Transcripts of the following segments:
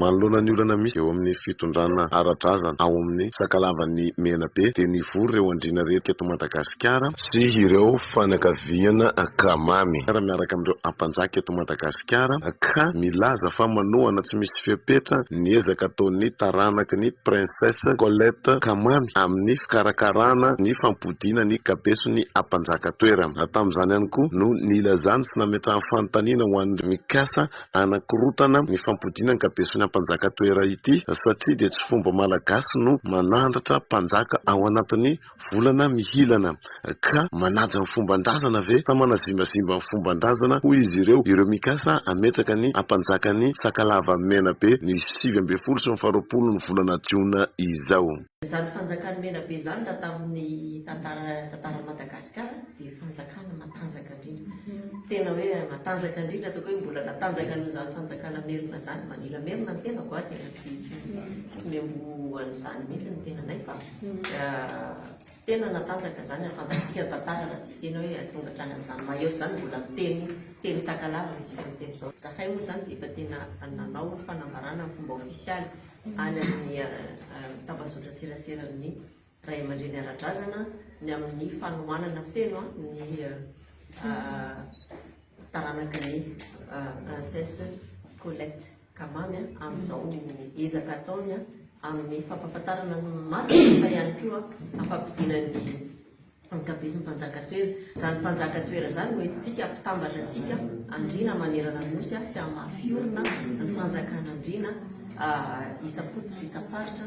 Manoloana ny olana misy eo amin'ny fitondrana ara-drazana ao amin'ny Sakalavan'ny Menabe dia nivory ireo andriana rehetra eto Madagasikara, sy ireo fianakaviana Kamamy ary miaraka amin'ireo Ampanjaka eto Madagasikara ka milaza fa manohana tsy misy fepetra ny ezaka ataon'ny taranaky ny Princesse Colette Kamamy amin'ny fikarakarana ny fampodiana ny kabeson'ny Ampanjaka toerana. Tamin'izany ihany koa no nilazany sy nametrahany fanontaniana ho an'ny mikasa Hanakorotana ny fampodiana ankabeson'ny ampanjaka toera ity satria dia tsy fomba malagasy no manandratra mpanjaka ao anatin'ny volana mihilana ka manaja ny fomban-drazana ve sa manazimbazimba ny fomban-drazana hoy izy ireo ireo mikasa hametraka ny ampanjakan'ny Sakalava Menabe ny sivy ambin'ny folo sy ny faha roapolo ny volana jiona izao. Izany fanjakany Menabe izany raha tamin'ny tantaran'i Madagasikara dia fanjakana matanjaka Tena hoe matanjaka indrindra ataoko hoe mbola natanjaka noho izany fanjakana merina izany. Manila merina ny tenako a, tena tsy tsy miamboho an'izany mihitsy ny tenanay fa tena natanjaka izany ary fantatsika ny tantara raha tsy tena hoe tonga hatrany amin'izany maillot izany mbola miteny teny sakalava ny tsika miteny izao. Izahay moa izany dia efa tena nanao fanambarana ny fomba ofisialy any amin'ny tambazotran-tseraseran'ny ray aman-dreny ara-drazana ny amin'ny fanohanana feno ny taranaka ny princesse Colette Kamamy amin'izao ezaka ataony amin'ny fampahafantarana ny marina fa ihany koa ampampidiana ny ankabezin'ny mpanjaka toera. Izany mpanjaka toera izany no entintsika ampitambatra antsika andriana manerana ny nosy sy hamafiorina ny fanjakan'andriana isam-pototry isam-paritra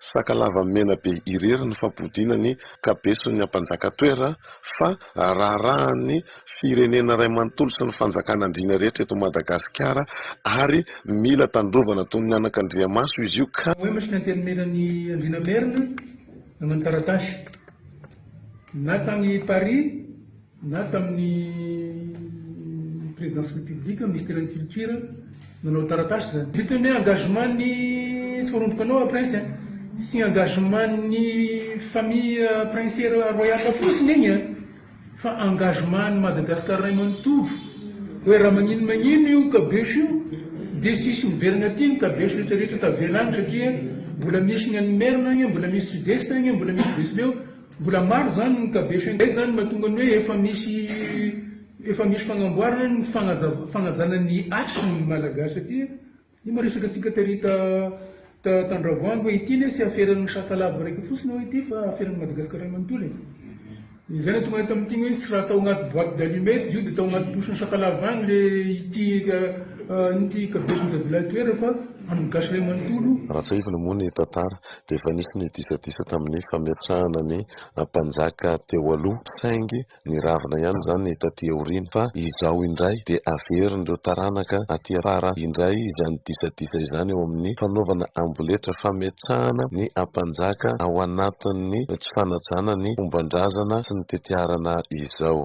Sakalava mena be irery ny fampodiana ny kabeson'ny ampanjaka toera fa raharahan'ny firenena ray manontolo sy ny fanjakana andriana rehetra eto Madagasikara ary mila tandrovana toy ny anakandriamaso izy io ka Poema sy ny Antenimieran'i Andriana Merina, nanao ny taratasy. Na tany Paris. Na tamin'ny Présidence République, Ministère-n'ny Culture nanao taratasy izany. Vita ny engagement-n'ny Sorondroko anao Prince a! Tsy engagement-n'ny famille Prince Royale fotsiny igny a! Fa engagement-n'i Madagascar ray manontolo hoe raha magnino magnino io kabeso io dia tsisy miverigna aty ny kabeso rehetra rehetra tavela agny satria mbola misy ny any Imerina agny, mbola misy Sud-Est agny, mbola misy Betsileo. Mbola maro izany no mikabesha indray izany mahatonga ny hoe efa misy efa misy fagnamboarana ny fagnazav fagnazana ny action ny malagasy aty e! Io maresaka antsika tery ta ta tandravoangy hoe ity ne tsy aferan'ny sakalava raika fotsiny hoe ity fa aferan'ny madagasikara manontolo e! izay no tonga tamin'ity hoe tsy raha tao agnaty boite d'allumettes izy io de tao agnaty bouche-n'ny sakalava agny le ity ity kabesin'ny dadilahy toerana fa an'ny gasy ray manontolo. Raha tsaivina moa ny tantara. dia efa nisy ny disadisa tamin'ny fametrahana ny mpanjaka teo aloha saingy niravona ihany izany taty aoriana fa izao indray dia averin'ireo taranaka aty afara indray izany disadisa izany eo amin'ny fanaovana amboletra fametrahana ny mpanjaka ao anatin'ny tsy fanajana ny fombandrazana sy ny tetiarana izao.